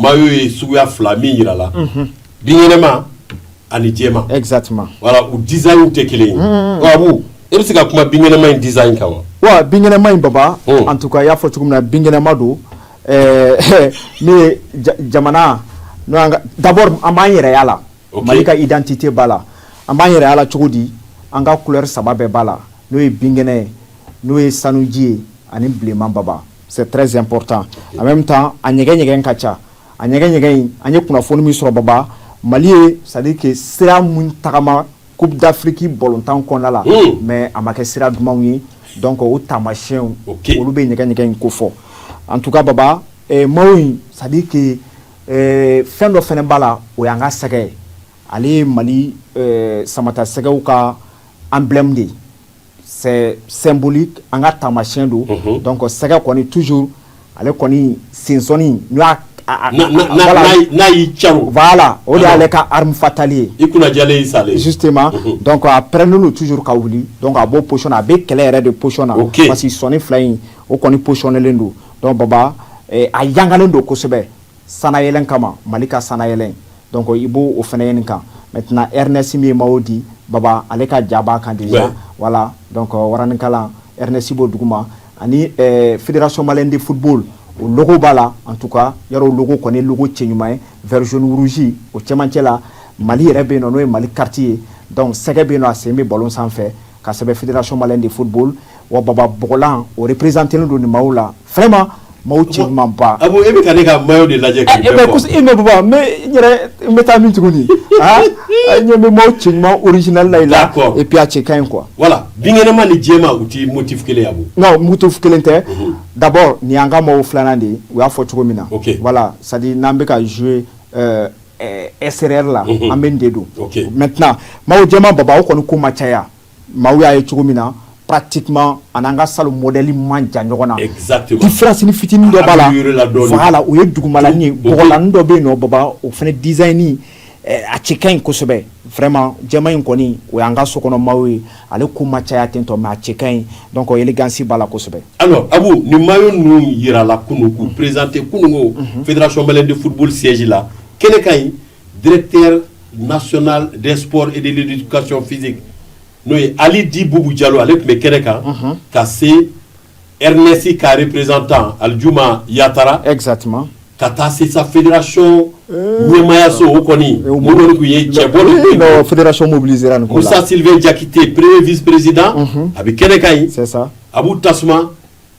maillot ye suguya fila min jira la binkɛnɛma ani jɛma exactement voilà u design tɛ kelen ye Abu e bɛ se ka kuma binkɛnɛma in design kan wa wa binkɛnɛma in baba oh. en tout cas i y'a fɔ cogo min na binkɛnɛma don eh, min ye jamana n'o y'an ka d'abord an b'an yɛrɛ y'a la Mali ka identité b'a la an b'an yɛrɛ y'a la cogo di an ka couleur saba bɛɛ b'a la n'o ye binkɛnɛ ye n'o ye sanuji ye ani bilenman baba c'est très important en même temps a ɲɛgɛn ɲɛgɛn ka ca a ɲɛgɛn ɲɛgɛn an ye kunnafoni min sɔrɔ baba mali ye c'est à dire que sira minnu tagama Coupe d'Afrique balɔntan kɔnɔna la mais a ma kɛ sira dumanw ye donc o taamasiyɛnw olu bɛ ɲɛgɛn ɲɛgɛn in ko fɔ en tout cas baba maillot in c'est à dire que fɛn dɔ fana b'a la o y'an ka sɛgɛ ye ale ye mali samatasɛgɛw ka emblème de ye c'est symbolique an ka taamasiyɛn don donc sɛgɛ kɔni toujours ale kɔni sensɔnni n'o y'a n'a y'i caron voilà o de y'ale ka arme fatale ye i kunna jalen y'i salen ye justement donc a pɛrɛnnen don toujours ka wuli donc a b'o position na a bɛ kɛlɛ yɛrɛ de position na parce que sɔnni fila in o kɔni positionnelen don donc Baba a yangalen don kosɛbɛ sanayɛlɛn kama mali ka sanayɛlɛn donc i b'o fana ye nin kan maintenant Airness min ye maillot di baba ale ka ja b'a kan déjà voilà donc euh, waraninkalan Airness b'o duguma ani euh, fédération malienne de football o logo b'a la en tout cas yarɔ logo kɔni logo cɛ ɲuman ye vert jaune rouge o cɛmancɛ la mali yɛrɛ bɛ yen nɔ n'o ye mali carte ye donc sɛgɛ bɛ yen nɔ a sen bɛ ballon sanfɛ ka sɛbɛn fédération malienne de football wa baba blan o perezte don nin maaw la fɛnma mɔgɔw cɛ ba e bɛ taa ne ka ba de lajɛ e n bɛ taa min tuguni ɲɛ bɛ maaw cɛ ɲuman orizlayi la e ppiya cɛ ka ɲi kuwa wala binkɛnɛma ni diɲɛ ma u tɛ moti kelen yan n mutu kelen tɛ dabɔ nin an ka maaw filanan de u y'a fɔ cogo min na wala sa n'an bɛ ka zooye e sɛ la an bɛ de don mɛ tɛna maaw jɛ baba o kɔni ko ma caya Maaw y'a ye cogo min na pati ani n'an ka sa mɔdli man jan ɲɔgɔn nafirasi ni fitinin dɔ b'a la u ye duguma la dɔ bɛ nɔ baba o fana dizɲini a cɛ ka ɲisɛbɛ fɛma jama in kɔni o y'an ka sokɔnɔ maaw ye ale ko ma caya ten tɔ mɛ a cɛ ka ɲi dɔn kɔ gansi b'a lasɛbɛ a nin ma ninnu jirala kun perezte kununko pdrasɔnb de futboli sji la kɛnɛ ka ɲi Directeur national des sports et de l'éducation physique n'o ye Ali dit Bubu Jalo ale tun bɛ kɛnɛ kan ka se Airness ka représentant Alijuma Yatara exactement ka taa se sa fédération ɲɛmaayaso o kɔni o kɔni tun ye cɛbɔ de ye ee non fédération mobiliséra nin ko la Musa Sylvain Jakite premier vice président a bɛ kɛnɛ kan yen c'est ça Abu Tasuma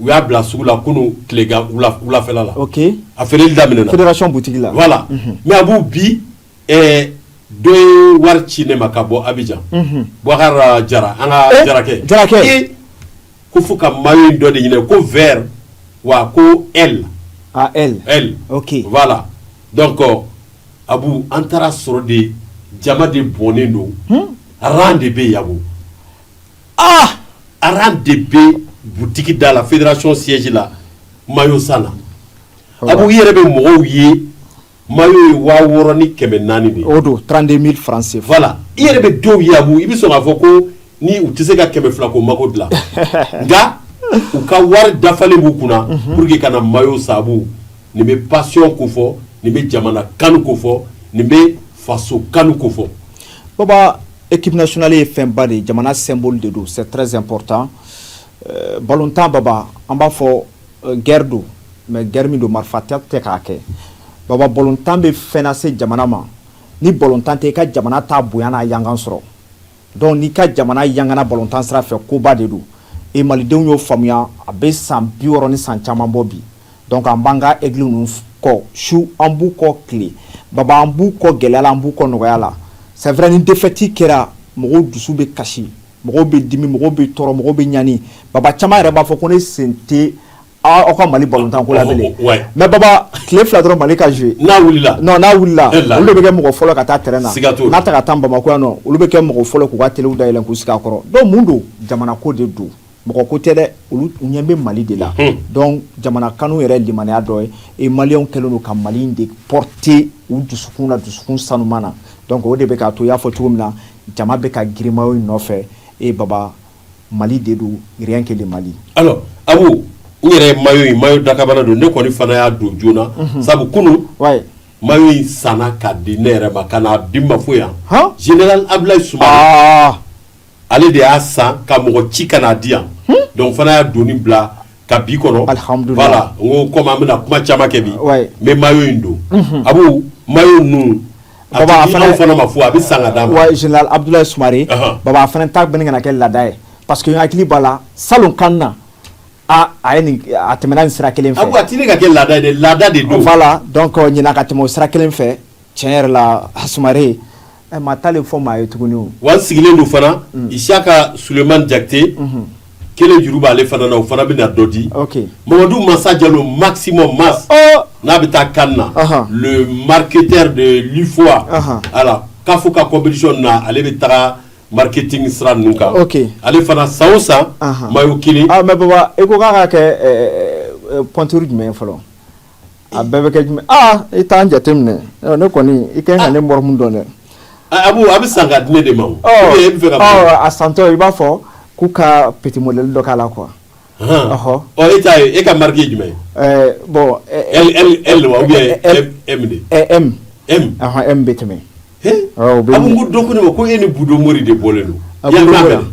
u y'a bila sugu la kunun tilegan wula- wulafɛla la ok a feereli daminɛna fédération boutique la voilà mais Abu bi ɛɛ dɔ ye wari ci ne ma ka bɔ Abidjan Boubacar Jara an ka Eh, jarakɛ Jarakɛ. Eh, ko fo ka maillot in dɔ de ɲini ko vert wa ko L à elle L ok voilà donc euh, Abu an taara sɔrɔ de jama de bɔnnen don rang de bɛ yen Abu rang de bɛ butigi da la fédération siège la maillot san na Abu i yɛrɛ bɛ mɔgɔw ye maillot ye waa wɔɔrɔ ni kɛmɛ naani de o don trente-deux mille francs CFA voilà i yɛrɛ bɛ dɔw ye Abu i bɛ sɔn k'a fɔ ko ninnu tɛ se ka kɛmɛ fila ko mako dilan nka u ka wari dafalen b'u kunna pour que ka na maillot san Abu nin bɛ passion ko fɔ nin bɛ jamana kanu ko fɔ nin bɛ faso kanu ko fɔ baba Équipe nationale ye fɛn ba de ye jamana symbole de don c'est très important ballontan baba an b'a fɔ guerre don mais guerre min don marifa tɛ ta k'a kɛ baba ballontan bɛ fɛn lase jamana ma ni ballontan tɛ i ka jamana t'a bonya n'a yangan sɔrɔ donc n'i ka jamana yangana ballontan sira fɛ koba de don et malidenw y'o faamuya a bɛ san bi wɔɔrɔ ni san caman bɔ bi donc an b'an ka Aigles ninnu kɔ su an b'u kɔ tile baba an b'u kɔ gɛlɛya la an b'u kɔ nɔgɔya la c'est vrai ni défaite kɛra mɔgɔw dusu bɛ kasi mɔgɔw bɛ dimi mɔgɔw bɛ tɔɔrɔ mɔgɔw bɛ ɲani baba caman yɛrɛ b'a fɔ ko ne sen tɛ aw ka mali ballontan ko la bilen mais baba tile fila dɔrɔn mali ka jouer n'a wulila n'a wulila olu bɛ kɛ mɔgɔ fɔlɔ ka taa terrain na n'a taga ka taa bamakɔ yan olu bɛ kɛ mɔgɔ fɔlɔ k'u ka tele dayɛlɛ k'u sigi a kɔrɔ donc mun don jamana ko de don mɔgɔ ko tɛ dɛ olu ɲɛ bɛ mali de la donc jamana kanu yɛrɛ limaniya dɔ ye et Maliens kɛlen don ka mali de porter u dusukun na dusukun sanuman na donc o de bɛ k'a to y'a fɔ cogo min na jama bɛ ka girin maillot in nɔfɛ et baba mali de don rien que le mali a Abu n yɛrɛ maillot in maillot dakabana don ne kɔni fana y'a don joona sabu kunun maillot in sanna ka di ne yɛrɛ ma ka n'a di n ma fo yan général Abdoulaye Soumaré ale de y'a san ka mɔgɔ ci ka n'a di yan donc fana y'a donni bila ka bi kɔnɔ voilà n ko comme an bɛna kuma caman kɛ bi mais maillot in don Abu maillot ninnu fana ma fo a bɛ san ka d'a ma Abdoulaye Soumaré baba fana ta bɛ ka na kɛ laada ye parce que n hakili b'a la salon CAN na a a tɛmɛna nin sira kelen fɛ a tɛ ka kɛ laada laada de don voilà ɲinan ka tɛmɛ o sira kelen fɛ tiɲɛ yɛrɛ la Soumaré Ɛ maa t'a fɔ maa ye tuguni wa n sigilen don fana isiyaka suleyimani jakite kelen juru b'ale fana na o fana bɛ na dɔ di mamadu masa jalo maximum mas n'a bɛ taa CAN na le marketeur de l'UFOA CAF ka compétition na ale bɛ taga marketing sira ninnu kan ale fana san o san mayo kelen baba e ko k'a ka kɛ pointure jumɛn fɔlɔ a bɛɛ bɛ kɛ jumɛn aa i t'an jateminɛ ne kɔni i kan ka ne mɔgɔ min dɔn dɛ abu a bɛ san ka di ne de ma a santɔ i b'a fɔ k'u ka petit modèle dɔ k'a la quoi e t'a ye e ka mariki jumɛn bon L wa M de M bɛ tɛmɛ abu ko dɔ ko ne ma ko e ni budon mori de bɔlen don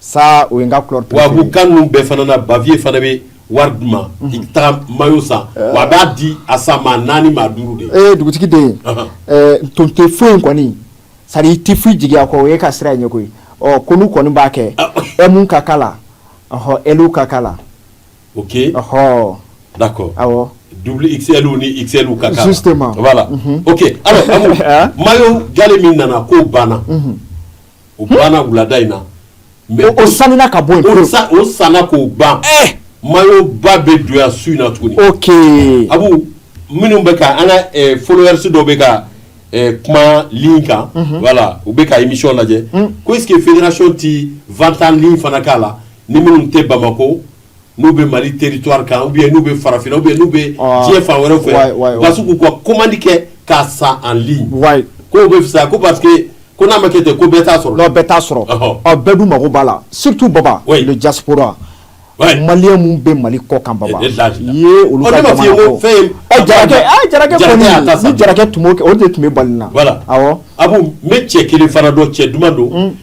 sa o ka tubabu kan bɛɛ fana bafiye fana bɛ wari di ma i ka taa mayo san wa b'a di a san maa naani maa duuru de ee dugutigi den ton tɛ foyi in kɔni sa i tɛ foyi jigin a kɔ o e ka sira ɲɛ koyi ɔ kɔnɔ kɔni b'a kɛ M ka k'a la ɔ L ka k'a la ok ɔɔ d'accord double XL ni XL u ka k'a la ok mayo galɛ min nana k'o banna o banna wulada in na mais o o sanina ka bɔ yen o pewu. sa o sanna k'o ban mayo ba bɛ don yan su in na tuguni ok abu minnu bɛ ka an ka eh, followers dɔw bɛ ka eh, kuma ligne kan Mhm. voilà u bɛ ka émission lajɛ ko est ce que fédération ti vente en ligne fana k'a la ni minnu tɛ Bamako n'u bɛ mali territoire kan ou n'u bɛ farafinna ou n'u bɛ ah, diɲɛ fan wɛrɛ fɛ parce que k'u ka komandi kɛ k'a san en ligne k'o bɛ fisa ko parce que n'a ma kɛ ten ko bɛɛ t'a sɔrɔ bɛɛ t'a sɔrɔ ɔ bɛɛ dun mago b'a la surtout baba le diaspora malien minnu bɛ mali kɔkan baba ye olu jarakɛ tun o de tun bɛ bali na a bɛ cɛ kelen fana dɔn cɛ duman don hmm.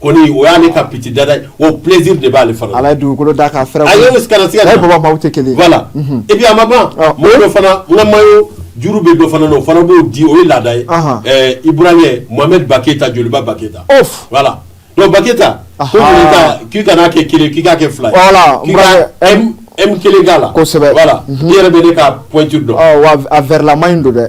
Kɔni o y'ale ka petit dada ye o plaisir de b'ale fana ala dugukolo da k'a fɛrɛ a ye tɛ kelen voilà et puis a ma ban mɔgɔ dɔ fana n ka mayo juru bɛ dɔ fana na o fana b'o di o ye laada ye ibrahima mohamed ba keyita joliba ba keyita voilà donc ba keyita k'i kana kɛ kelen k'i k'a kɛ fila M kelen k'a la kosɛbɛ i yɛrɛ bɛ ne ka pointure dɔn a vertlama in don dɛ